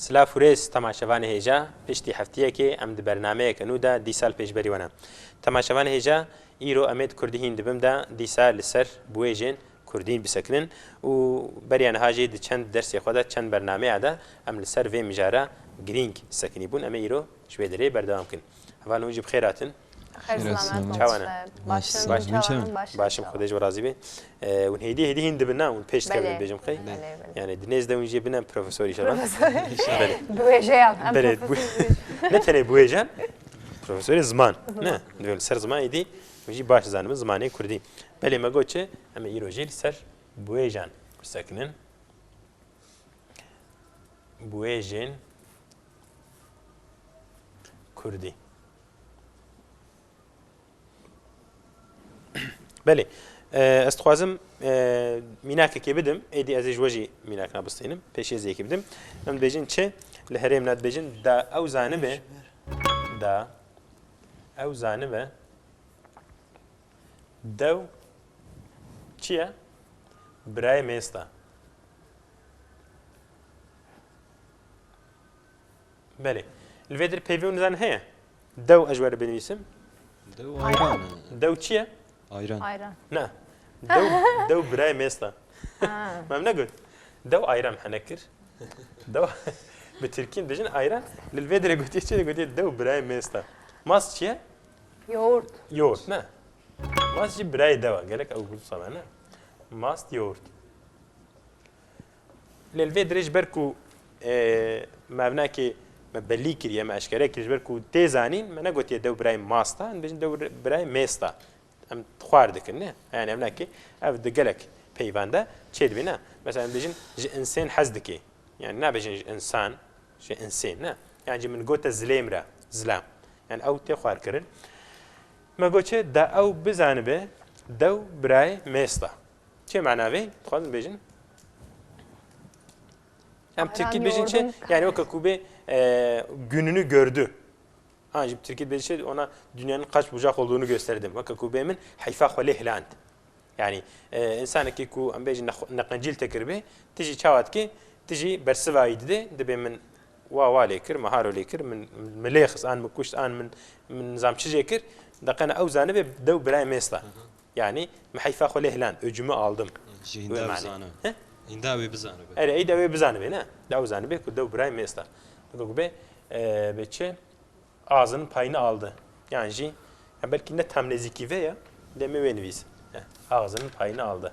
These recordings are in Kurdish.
Silav û rêz temaşevanê hêja, piştî hefteyekê em di bernameyeke nû de dîsa li pêşberî we ne. Temaşevanê hêja, îro em ê di kurdî hîn di bin de dîsa li ser bi wê jên Kurdî bisekinin û beriya niha jî di çend dersê xwe de, çend bernameya de em li ser vê mijara girîng sekinî bûn. Em ê îro ji vê derê berdewam bikin. Hevalên hûn jî bi xêr hatin. Xêr selamet Çawa ne? Başin Baş Hûn çawa ne? Başin Başim Xwedê ji we razî be. Hûn hêdî hêdî hîn dibin na? Hûn pêş dikevin Belê dibêjim qey? Belê belê Yanî di nêz de hûn jî bine profesor îşallah. Profesor Belê. Bi wêjeyan em Belê bi wê profesor Ne tenê bi wêjeyan profesorê ziman ne? Divê li ser ziman êdî Min jî baş zanibin zimanê kurdî. Belê me got çi? Em ê îro jî li ser biwêjan bisekinin. Biwêjên kurdî. Belê. Ez dixwazim mînakekê bidim, êdî ez ê ji we jî mînakna bistînim, pêşêziyekê bidim. Em dibêjin çi? Li herêmna dibêjin da ew zanibe da Ew zanibe dew çi ye? Birayê mêsta. Belê. Li vê dir peyvê û nizan heye. Dew ez ji we re binivîsim. Dew ayran e. Dew çi ye? Ayran. Ayran. Na. Dew, dew birayê mêst e. Me ev negot. Dew ayran hene kir. Dew bi Tirkî dijin ayran. Li vê dirê gotiye çi gotiye dew birayê mêst e. Mast çi ye? Yoğurt. Yoğurt ne. Mast jî birayê dew e. Gelek ew gul same ne. Mast yoğurt. Lê li vê dirê ji ber ku mevnekê me belî kiriye, me eşkere kiriye ji ber ku tê zanîn me negotiye dew birayê masta, em dibêjin dew birayê mêsta. Em xwar dikin ne. Yani ev nake ev di gelek peyvende çê dibî ne. Mesela em dibêjin ji insên hez dike. Yani nabêjin ji insan, ji insên ne. Yani ji min gote zilêm re, zilam. Yani ew tê xwarkirin. Me got çi da ew bizanibe dew birayê mêsta. Çi mana vê? Dixwazin bêjin. Em Tirkî bêjin çi? Yani weke ku bê gününü gördü. Ha jî Tirkî bêjin çi? Ona dünyanın kaç bucak olduğunu gösterdim. Weke ku bê min heyfa xwe lê hiland. Yani insanekî ku em bêjin neqencîl te kiribê, tu jî çawa dikê, tu jî bersivayî didê, dibê min wa wa lê kir, min haro lê kir, min min lê xist an min kuşt an min min nizam çi jê kir, deqena ew zanibê dew birayê mêsta. Yanî min heyfa xwe lê hiland û cûme aldim. Jî hîn dew zana. Hîn dew wê bizanibe. Erê ey dew wê bizanibe ne. Dew zanibe ku dew birayê mêst e. Digo ku bê bê çi azin payini aldi. Yan jî ya belkî ne tam nêzîkî vê ye lê min wê nivîs. Axzin payini aldi.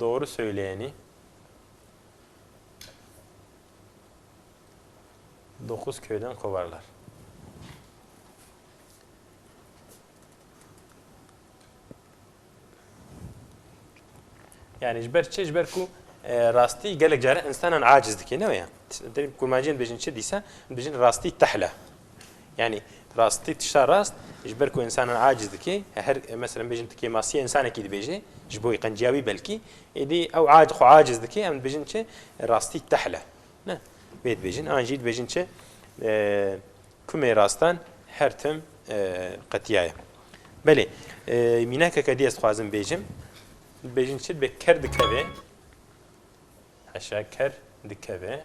Doğru söyleyeni Dokuz köyden kovarlar. Yani jber çi jber ku e, rastî gelek care insanan aciz dike ne ya. Kurmanciyên bêjin çi dîsa bêjin rastî tehla. Yanî rastî tişta rast ji ber ku însanan aciz dike, her meselem bêjin tu kêmasiyê însanekî dibêje, ji bo qenciya wî belkî, êdî ew aciz xwe aciz dike, em dibêjin çi? Rastî tehl e. Ne, vê dibêjin. An jî dibêjin çi? Kumê rastan her tim qetiya ye. Belê, mînakeke dî ez dixwazim bêjim. Dibêjin çi? Dibê ker dikeve. Heşa ker dikeve.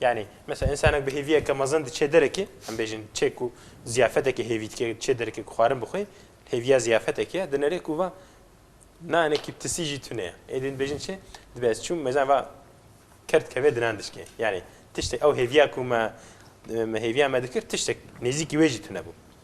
Yanî mesela însanek bi hêviyeke mezin diçe derekê, em bêjin çê ku ziyafetekê hêvî dike diçe derekê ku xwarin bixwe, hêviya ziyafetekê ye, dinere ku va nanekî tisî jî tune ye. Êdî din dibêjin çi? Dibe ez çûm me zana va ker dikeve dinan dişkê. Yanî tiştek ew hêviya ku me hêviya me dikir tiştek nêzîkî wê jî tune bû.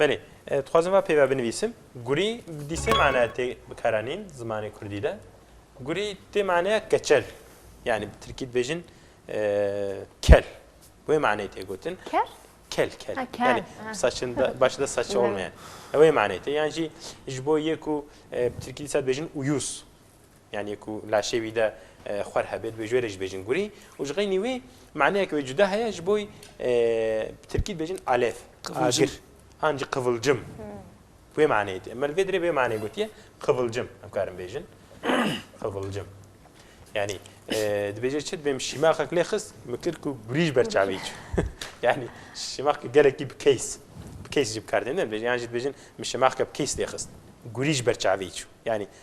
Belê, dixwazim va peyva binivîsim, gurî di sê manaya tê bikaranîn zimanê kurdî de. Gurî tê manaya keçel. Yanî bi tirkî dibêjin kel. Wê maneyê tê gotin. Ker? Kel kel. Ha, kel. Yanî Ha. saçin de baş de saçi olmayan. Wê maneyê tê. Yan jî ji bo yê ku e, bi tirkî dîsa dibêjin uyûs. Yanî ku laşê wî de xwer hebe, dibê ji wê re jî bêjin gurî û ji xeynî wê maneyeke wê cuda heye ji bo bi tirkî dibêjin alêv, agir an jî qivilcim bi wê maneyê tê. Em li vê dirê bi wê maneyê gotiye qivilcim em karin bêjin qivilcim. Yanî dibêje çi dibê min şîmaxek lê xist min kir ku gurî ji ber çavê çû. Yanî şîmaxeke gelekî bi keys bi keys jî bi kar tê. Dibêjin yan jî dibêjin min şîmaxeke bi keys lê xist gurî ji ber çavê çû. Yanî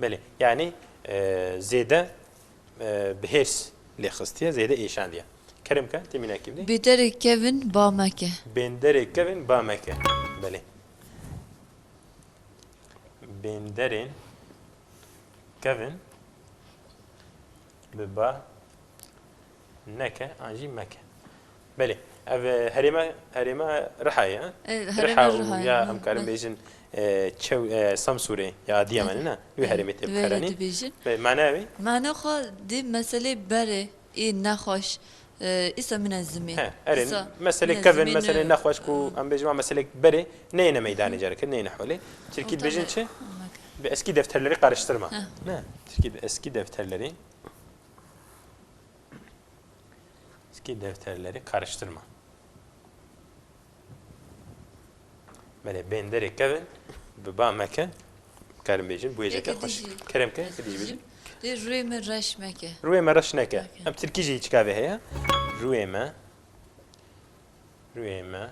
Belê, yanî zêde bi hêrs lê xistiye, zêde êşandiye. Kerem ke tê mînakî bidê. Bêderê kevin ba meke. Bênderê kevin ba meke. Belê. Bênderên kevin Biba neke an jî meke. Belê ev herême herême riha ye riha û ya em karin bêjin çew Samsûrê ya Adiyamanê ne wê herêmê tê bikaranîn. Mana wê? Mana xwe di meselê berê ê nexweş Îsa min e zimê. He, erê, meselê kevn, meselê nexweş ku em bêjin wan meselek berê neyêne meydanê carekê neyêne holê. Tirkî dibêjin çi? Bi eskî defterlerî qariştirma. Ne, tirkî bi eskî defterlerî eskî defterlerî qariştirma. Belê bên derê kevin bi ba me ke karim bêjin bu yêjeke xweş kerem ke êdî jî bêjin Lê rûyê me reş meke. Rûyê me reş neke. Em tirkî jî hiç kavê heye. Rûyê me rûyê me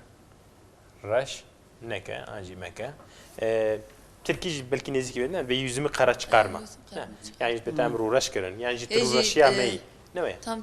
reş neke an jî meke. Tirkî jî belkî nêzîkî bêne vê yüzümî qera çıkarma. Yani ji betem rûreş kirin. Yani ji rûreşiya me yî. Ne wê. Tam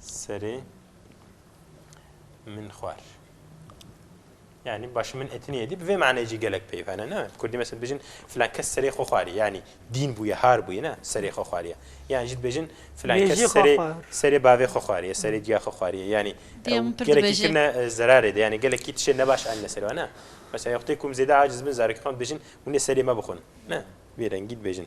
serê min xwar. Yani baş min etini yedi bi vê manayê jî gelek peyv hene ne Kurdî mesela dibêjin filan kes serê xwe xwarî yanî dîn bûye har bûye ne serê xwe xwariye yan jî dibêjin filan kes serê serê bavê xwe xwariye serê diya xwe xwariye yanî gelekî kirine zerarê de yanî gelekî tişê nebaş anine serê wan e mesela wextê ku em zêde aciz bin zarokî xwe dibêjin hûnê serê me bixwin ne bêrengî dibêjin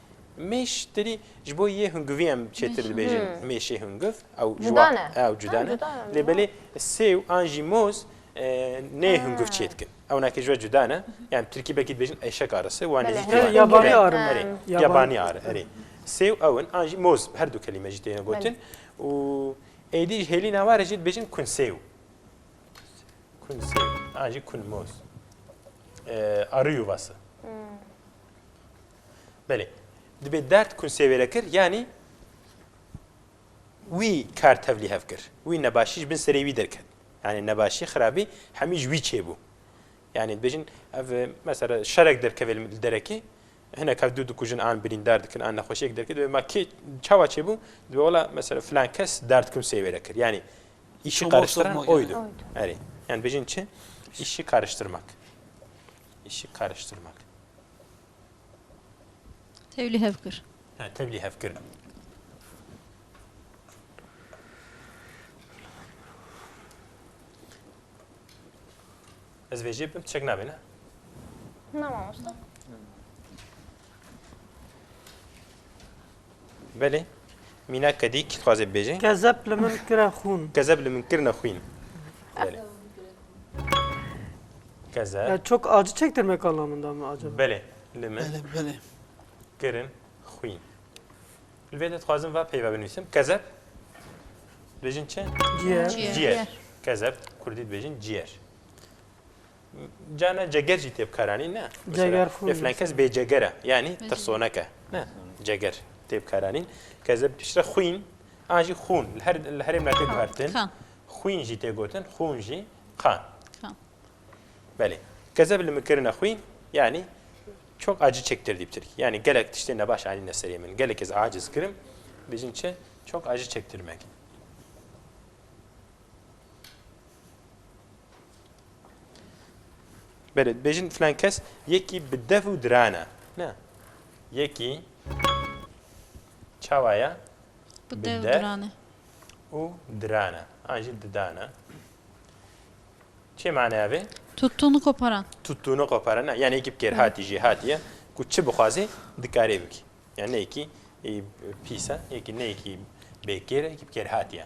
Mêş tirî ji bo yê hungivî em çêtir dibêjin mêşê hungiv ew cuda ne ew cuda ne lê belê sêw an jî moz nê hungiv çê dikin ew nakê ji we cuda ne yan tirkî belkî dibêjin eşek arisi wan nêzîkî yabanî ar erê yabanî ar erê sêw ew in an jî moz her du kelîme jî têne gotin û êdî ji hêlî navare jî dibêjin kun sêw kun sêw an jî kun moz ariyû vase Belê. Dibê derd kunsê wê re kir yanî wî kar tevlî hev kir. Wî nebaşî ji bin serê wî derket. Yanî nebaşî, xirabî hemî ji wî çêbû. Yanî dibêjin ev mesela şerek derkeve li derekê hinek hev dû dikujin an birîndar dikin an nexweşiyek derket dibê ma kê çawa çêbû dibê wela mesela filan kes derd kunsê wê re kir. Yanî îşi qariştiran oydu. Erê. Yani dibêjin çi? İşi karıştırmak. İşi karıştırmak. Tevlî hev kir. He, tevlî hev kir. Ez vê jê bim, çek nabê ne? Na mamosta. Belê, mîna kedî kî dixwaze bibêje? Kezeb li min kire xûn. Kezeb li min kirine xwîn. Belê. Kezeb. Ya çok acı çektirmek anlamında mı acaba? Belê, li min Belê, belê. kirin xwîn. Li vê de dixwazim va peyva binivîsim. Kezeb dibêjin çi? Ciğer. Ciğer. Ciğer. Kezeb kurdî dibêjin ciğer. Cana ceger jî tê bikaranîn ne. Ceger fûn. Lê filan kes bê ceger e. Yanî tirsonek e. Ne. Ceger tê bikaranîn. Ke ze piştre xwîn an jî xûn. Li her li herêmna tê guhertin. Xwîn jî tê gotin, xûn jî qan. Qan. Belê. Ke ze li min kirine xwîn yanî çok acı çektirdi bitir. Yani gelek tiştê nebaş anîne serê min. Gelek ez aciz kirim. Bêjin çi? Çok acı çektirmek. Belê, dibêjin filan kes yekî bi dev û diran e. Ne. Yekî çawa ye? Bi dev û diran e. Û diran e. An jî didan e. Çê maneya vê? Tutûnu koparan. Tutûnu koparan. Ne, yani yekî bi kêrhatî jî hatiye ku çi bixwazê dikarê bikî. Yani ne yekî pîs e, yekî ne yekî bêkêr e, yekî bi kêrhatî ye.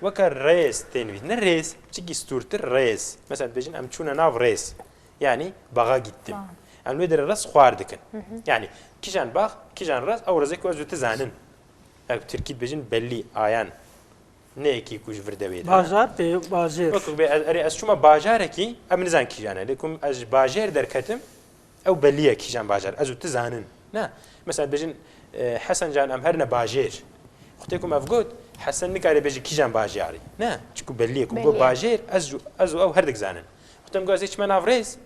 Weke rêz tên vît. Ne rêz, çikî stûrtir rêz. Mesela dibêjin em çûne nav rêz. Yanî baxa gîttim. Em li wê derê rêz xwar dikin. Yanî kîjan bax, kîjan rêz ew rêzê ku ez û tu zanin. Ya ku tirkî dibêjin bellî, ayan. Ne yekî ku ji vir dewê de. Bajar tê bajêr. Weke ku bê ez erê ez çûma bajarekî em nizan kîjan e. Lê ku ez ji bajêr derketim Ew belî ye kîjan bajar ez û tu zanin. Na, mesela dibêjin Hesen can em her ne bajêr. Xwe tê ku me vgot Hesen nikare bêje kîjan bajarî. Na, çiku belî ye ku got bajêr ez û ez û ew herdik zanin. Xwe tem ku ez ê çime nav rêz,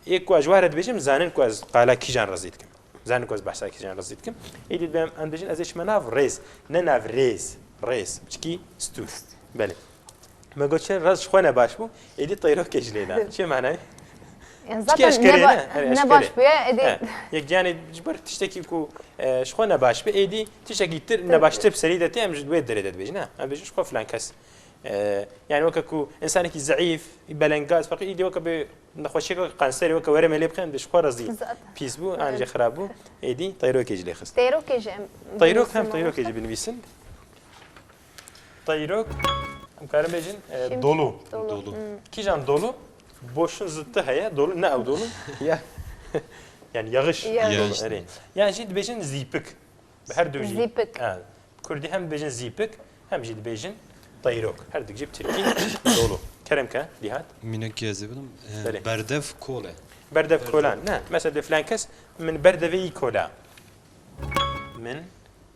ê ku ez ji we re dibêjim zanin ku ez qala kîjan re zî dikim. Zanin ku ez behsa kîjan re zî dikim. Êdî divê em dibêjin ez ê çime nav rêz, ne nav rêz, rêz, çikî stûr. Belê. Me got çi raz ji xwe ne baş bû, êdî teyrokê ji lê da. Çi manayê? Yani Çi zaten eşkerê ne, ba- ne? Herê ne eşkerê. baş bûye, êdî- He, Yek giyanê ji ber tiştekî ku e, ji xwe ne baş be êdî tiştekî tir ne baştir bi serî de tê em ji wê derê de dibêjin. Ne, em bêjin ji xwe filan kes. e, Yani weke ku insanekî zeîf, belengaz feqî êdî weke bê nexweşiyeke weke kanserê weke were me lê bixê em dê ji xwe razî. Zaten. Pîs bû, an jî xirab bû, êdî teyrokê ji lê xist. Teyrokê jî em Teyrok hem binivîsin. teyrokê jî binivîsin. Te îro em karin bêjin dolu. Dolu. Kîjan dolu? Boşin zi ti heye dolu ne ew dolu. Ya. Yani yağış. Yağış. Yani jî dibêjin zîpik. Bi her du jî. Zîpik. Kurdî hem dibêjin zîpik hem jî dibêjin Tayrok. Her dikcî Tirkî dolu. Kerem ke dîhat. Mînek ki ez ê bidim. Berdev kole. Berdev kolan. Ne. Mesela de filan kes min berdevê î kola. Min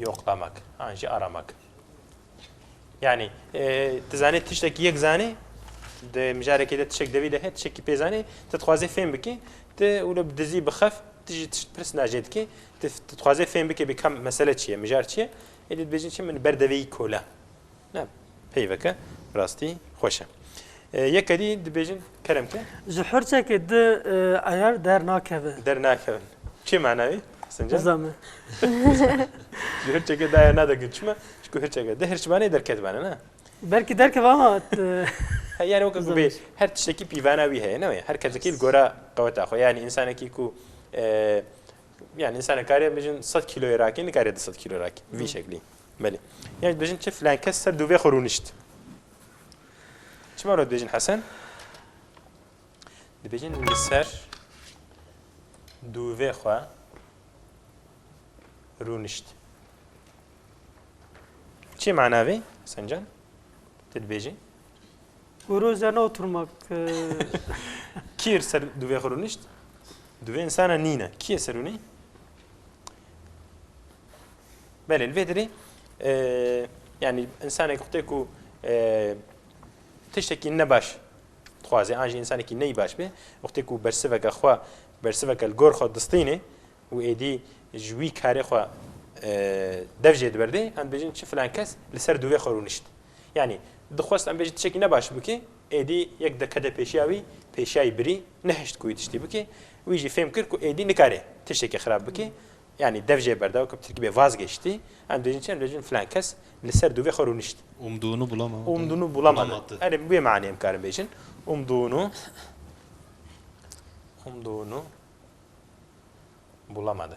Yoqlamak, an jî aramak. Yani tu zanî tiştekî yek zanî di mijarekê de tişek devî de hê tişekî pê zanî tu dixwazê fêm bikî tu wilo bi dizî bixef tu jî tişt pirs nacê dikî tu dixwazê fêm bikê bî kam mesele çi ye mijar çi ye êdî dibêjin çi min berdeveyî kola Ne peyveke rastî xweş e. Yeke dî dibêjin kerem ke. Ji hirçekê di eyer dernakeve. Dernakeve. Çi mana wî? Sincan? Nizame. Ji hirçekê di eyer nade gund çima? Çku hirçeke di hirçbanê derketbane ne? Belkî derkeve ama yani weke ku bê her tiştekî pîvana wî heye ne her kesekî li gora qeweta xwe yani însanekî ku yani însanek kariye bijin 100 kîloyê rakî nikarê 200 kîlo rakî vî şeklî. Belê. Yan jî dibêjin çi filan kes ser dûvê xwe rûnişt. Çima re dibêjin Hesen? Dibêjin li ser dûvê xwe rûnişt. Çi mana vê? Hesen can. Tu dibêjin. Guru ze ne oturmak. Kîr ser duvê xwe rûnişt? Duvê insana nîne. Kîyê ser rûnî? Belê li vê dirê yanî insanek xwtê ku tiştekî ne baş dixwazê an jî insanekî ney baş bê xwtê ku bersiveke xwe bersiveke li gor xwe distînê û êdî ji wî karê xwe dev jê diberdê em dibêjin çi filan kes li ser duvê xwe rûnişt. Yanî dixwest em bêjin tu çekî ne baş bikî, êdî yek deqede pêşiya wî pêşiyayî birî, nehişt ku wî tiştî bikî. Wî jî fêm kir ku êdî nikarê tiştekî xirab bikî. Yanî dev jê berda weke bi tirkî bê vazgeştî. Em dibêjin çi? Em dibêjin filan kes li ser dûvê xwe rûnişt. Umdûnû bulama. Umdûnû bulama di. Erê bi wê manê em karin bêjin. Umdûnû umdûnû bulama di.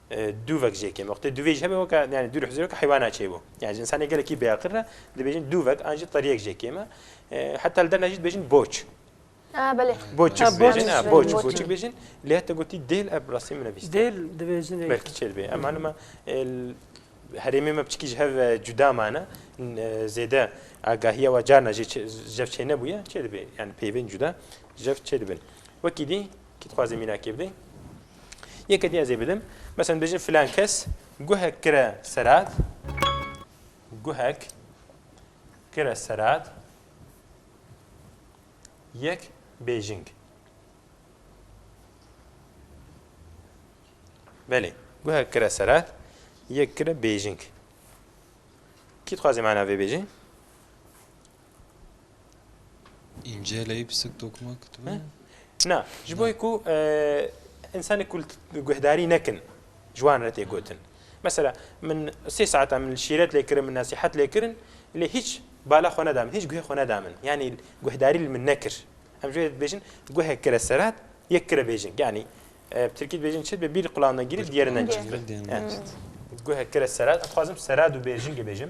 Dûvek jê kêm. Wextê dûvê jî hebe weke yani dûr huzureke heywana çêbo. Yani ji insanê gelekî bêaqil re dibêjin dûvek an jî teriyek jê kêm e. Heta li derna jî dibêjin boç. Ah belê. Boçuk bêjin, ah boçuk, boçuk bêjin. Lê heta gotî dêl ev rastî min nevîst. Dêl dibêjin. Belkî çêr bê. Em hanima herêmê me piçikî ji hev cuda mane. Zêde agahiya we carna jê jev çê nebûye. Çê dibê yani peyvên cuda jev çê dibin. Wekî dî Kî dixwaze mînakê bidê? Yekê din ez ê bidim. Mesela dibêjin filan kes guhek kire serat. Guhek kire serat. Yek bêjing. Belê. Guhek kire serat. Yek kire bêjing. Kî dixwaze mana vê bêjin? Înceleyî bi sik dokuma kitibe? Na, ji bo ku însanê kul guhdarî nekin ji wan re tê gotin. Mesela min sê saeta min li şîret lê kirin, min nesîhet lê kirin lê hîç bala xwe neda min, hîç guhê xwe neda min. Yanî guhdarî li min nekir. Em ji wê dibêjin guhê kire serat yê kire bêjin. Yanî bi tirkî dibêjin çi bi bîr qulağinden girî bi diyerinden çi. Guhê kire serat, em dixwazim serat û bêjin dibêjim.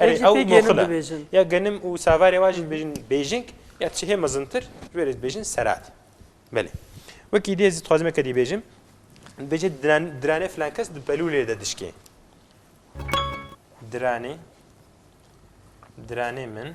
Erê ew moxile. Ya genim û savarê wan jî dibêjin bêjing ya çi hê mezintir ji wê re dibêjin serat. Belê. Wekî dê ez dixwazim eke dî bêjim. Dibêje diranê filan kes di pelûlê de dişkê. Diranê diranê min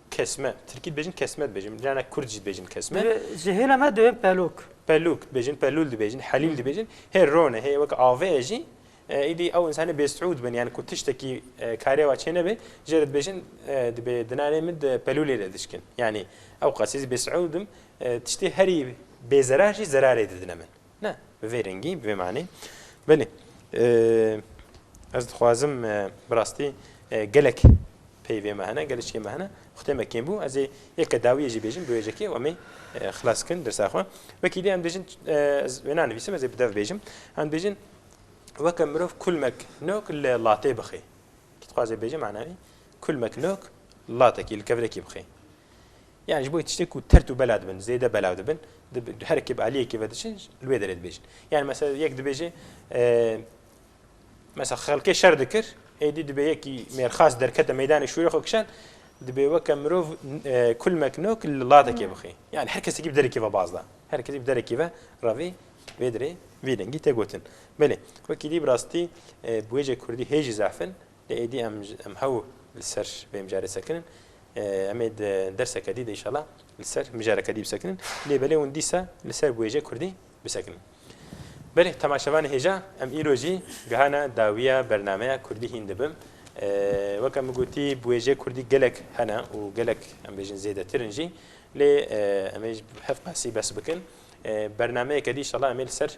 Kesme. Tirkî dibêjin kesme dibêjin. Dinya ne kurd jî dibêjin kesme. Divê ji hêla me divê pelûk. Pelûk dibêjin, pelûl dibêjin, helîl dibêjin. Hê rone, hê wek avê ye jî îdî ew însanê bêsûd bin yani ku tiştekî karê wa çê nebe jê re dibêjin dibê dinanê min di pelûlê de dişkin. Yanî ew qasî ez bêsûd im tiştê herî bêzerar jî zerarê didine min. Ne, bi vê rengî, bi vê manî. Belê, ez dixwazim bi rastî gelek peyvê me hene, gelişkê me hene, xutê me kêm bû, ez ê yeke dawiyê jî bêjim bi wêjekê û em ê xilas bikin dirsa xwe. Wekî dê em dibêjin ez wê nanivîsim, ez ê bi dev bêjim. Em dibêjin weke mirov kulmek nok li latê bixê. Kî dixwazê bêje mana wî kulmek nok latekî li kevirekî bixê. Yan ji bo wê tiştê ku tert û bela dibin, zêde belav dibin, di her ekê bi aliyekê ve diçin li wê derê dibêjin. Yan mesela yek dibêje mesela xelkê şer dikir, êdî dibê yekî mêrxas derkete meydanê şûrê xwe kişand, dibê weke mirov kulmek nok li latekê bixê. Yan her kesekî bi derekê ve baz da. Her kesî bi derekê ve revê vê derê vî dengî tê gotin. Belê wekî dî bi rastî bi wêje kurdî hê jî zaf in, Lê êdî em em hew li ser vê mijarê sekinin. Em ê di derseke dî de înşala li ser mijareke dî bisekinin. Lê belê hûn dîsa li ser bi wêjeyê kurdî bisekinin. Belê temaşevanê hêja em îro jî gihana dawiya bernameya Kurdî hîn dibim. Weke min gotî bi wêjeyê kurdî gelek hene û gelek em bêjin zêdetir in jî. Lê em ê ji hev qasî bes bikin. Bernameyeke dî înşala em ê li ser